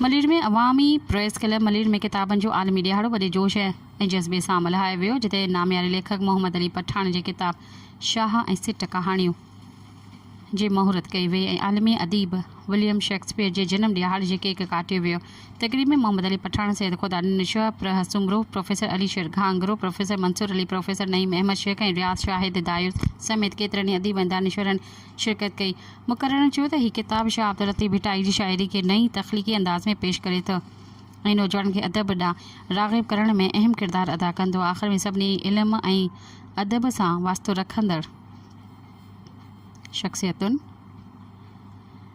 ملير ۾ عوامي press club Malir ۾ ڪتابن جو عالمي ڏيهاڙو وڏي جوش ۽ جذبي سان ملهايو ويو جتي نامياري ليکڪ محمد علي پٺاڻ جي ڪتاب شاهه ۽ سٽ ڪهاڻيون جي مهورت ڪئي وئي ۽ عالمي اديب وليم شيڪسپيئر جي جنم ڏيهاڙي جي ڪيڪ ڪاٽيو ويو تقريب ۾ محمد علي پٺاڻ سيد خدا نشوء پرهه Soomro professor Ali Sher Ghangro professor Mansoor Ali professor Naeem Ahmed Shaikh ۽ Riaz Shahid دايوس سميت ڪيترن ئي اديب ۽ دانشورن شرڪت ڪئي. مقررن چيو ته هي ڪتاب شاهه عبداللطيف ڀٽائي جي شاعري کي نئين تخليقي انداز ۾ پيش ڪري ٿو ۽ نوجوانن کي ادب ڏانهن راغب ڪرڻ ۾ اهم ڪردار ادا ڪندو. آخر ۾ سڀني علم ۽ ادب سان واسطو رکندڙ شخصيتن.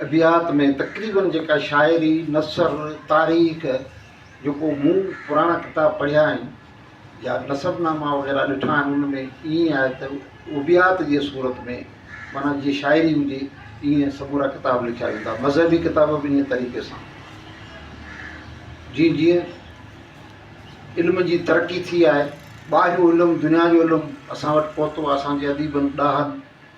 ادبيات ۾ تقريبن جيڪا شاعري، نثر، تاريخ جيڪو مون پراڻا ڪتاب پڙهيا آهن يا نسب ناما وغيره ڏٺا آهن ان ۾ ائين آهي ته ابيات جي صورت ۾ معنيٰ جيئن شاعري هجي ائين سمورا ڪتاب لکيا ويندا مذهبي ڪتاب به انهيء طريقي سان جيئن جيئن علم جي ترقي ٿي آهي ٻاهريون علم دنيا جو علم اسان وٽ پهتو اسان جي اديبن ڏاهن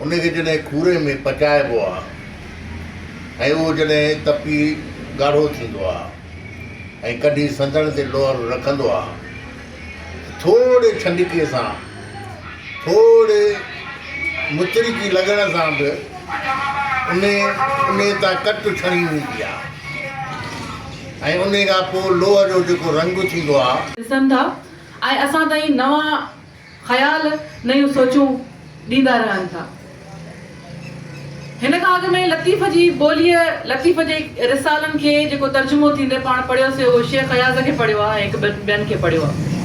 ان کي جڏهن کوري ۾ پچائبو آهي ۽ اهو جڏهن تپي ڳاڙهو ٿيندو آهي ۽ ڪڍي سنڌڻ تي لوهر رکندو آهي ته ٿورڙي ڇنڊڪي سان ٿورڙي مچرڪي لڳڻ سان به ان ان تان ڪچ ڇڻي ويندي آهي ۽ ان کان پوء لوهه جو جيڪو رنگ ٿيندو آهي. ڏسن ٿا ۽ اسان تائين نوان خيال، نيون سوچون ڏيندا رهن ٿا. هن کان اڳ ۾ لطيف جي ٻوليء لطيف جي رسالن کي جيڪو ترجمو ٿيندي پاڻ پڙهيو سي اهو شيخ اياز کي پڙهيو آهي ۽ هڪ ٻن ٻين کي پڙهيو آهي.